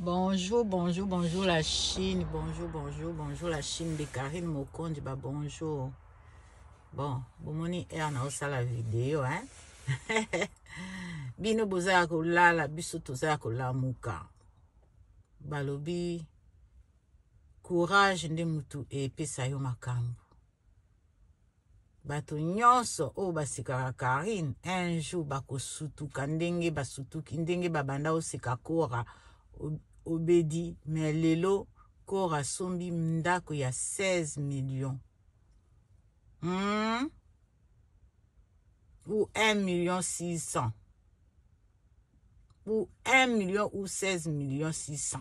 Bonjour, bonjour, bonjour la Chine. Bonjour, bonjour, bonjour la Chine de Karine Mokonji. Bah bonjour. Bon, bomoni air na osala video, hein? bino boza ya kolala biso toza ya kolamuka balobi courage nde motu epesa yo makambo bato nyonso oyo basekaka karine un jour bakosutuka ndenge basutuki ndenge babanda oseka kora obedi me lelo kora asombi ndako ya 16 million hmm? ou 1 million 600 pour 1 million ou 16 million 600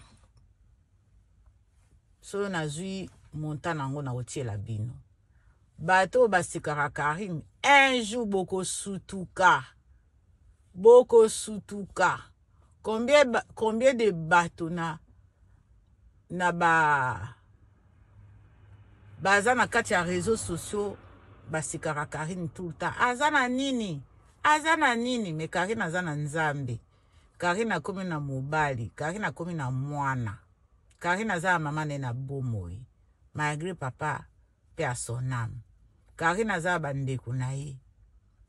soyo nazwi monta na yango nakotiela bino bato oyo basekaka karine un jour bokosutuka bokosutuka combien, combien de bato na na ba baza na kati ya réseaux sociaux basekaka Karine tout le temps aza na nini aza na nini mais Karine aza na Nzambe Karine akomi na mobali Karine akomi na mwana Karine aza na mama ne na bomoi malgré papa paix à son ame carine aza ya bandeko na ye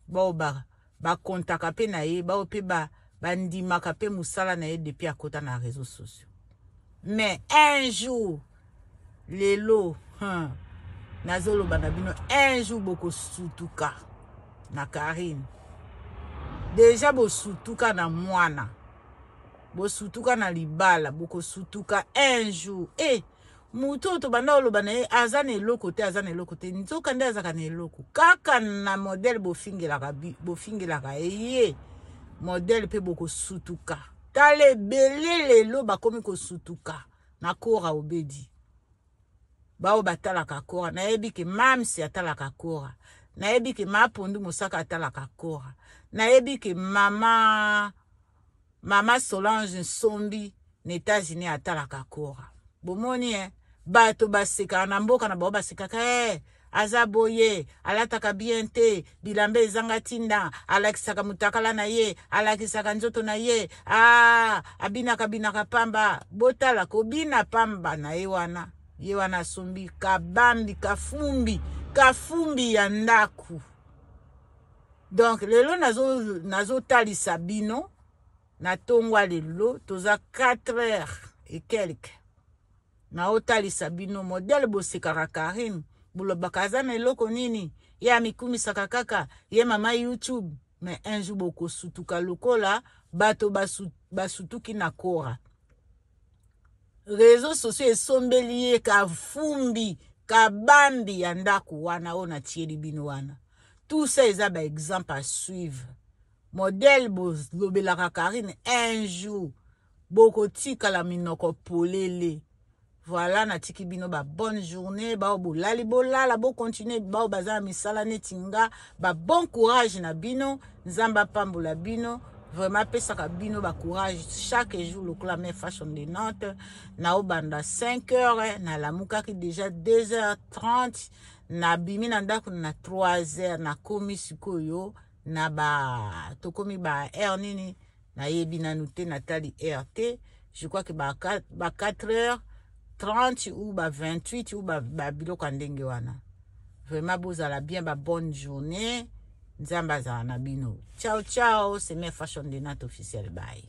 baoyo ba, bakontaka mpe na ye baoyo mpe ba, bandimaka mpe mosala na ye depuis akota na réseau sociaux mais un jour lelo hein, nazoloba na bino un jour bokosutuka na carine deja bosutuka na mwana bosutuka na libala bokosutuka un jour e eh, Moto oyo tobanda oloba na ye aza na eloko te, aza na eloko te, nzoka nde azalaka na eloko. Kaka na modele bofingelaka, bofingelaka eye modele mpe bokosutuka. Tala ebele lelo bakomi kosutuka na Kora Obedi. Baoyo batalaka Kora, nayebi ke Mamsi atalaka Kora, nayebi ke Mapondu Mosaka atalaka Kora, nayebi ke mama Mama Solange Nsombi na Etats-Unis atalaka Kora. Bomoni eh? Bato basekaka na mboka na bango basekaka eh, aza boye, alataka bien te, bilamba ezanga tinda, alakisaka mutakala na ye, alakisaka nzoto na ye, ah, abinaka binaka pamba. Botala kobina pamba na ye wana, ye wana asombi kabambi, kafumbi, kafumbi ya ndaku. donc lelo nazotalisa nazo bino na ntongo ya lelo toza 4 heures et quelque naotalisa bino modele bosekaka karine bolobaka aza na eloko nini ye amikumisaka kaka ye mama youtube mais un jour bokosutuka lokola bato basutuki na kora reseau sociaux esombeli ye kafumbi kabambi ya ndako wana oyo natieli bino wana tout ça eza ba exemple à suivre modèle bolobelaka karine un jour bokotikala minoko polele voilà natiki bino ba bonne journée baoyo bolali bolala bocontinue baoyo baza na misala neti nga ba bon courage na bino nzambe apambola bino vraiment apesaka bino ba courage chaque jour lokola me fashion de nantes naobanda 5 heures nalamukaki déjà 2 heures 30 nabimi na ndako na 3 heures nakomi sikoyo na ba tokomi ba heure nini nayebi nanu te natali heure te je crois que ba 4 heures 30 ou ba 28 ou ba, ba biloko ya ndenge wana vraiment bozala bien ba bonne journée nzambe azala na bino ciao ciao seme fashion de nat officiel baye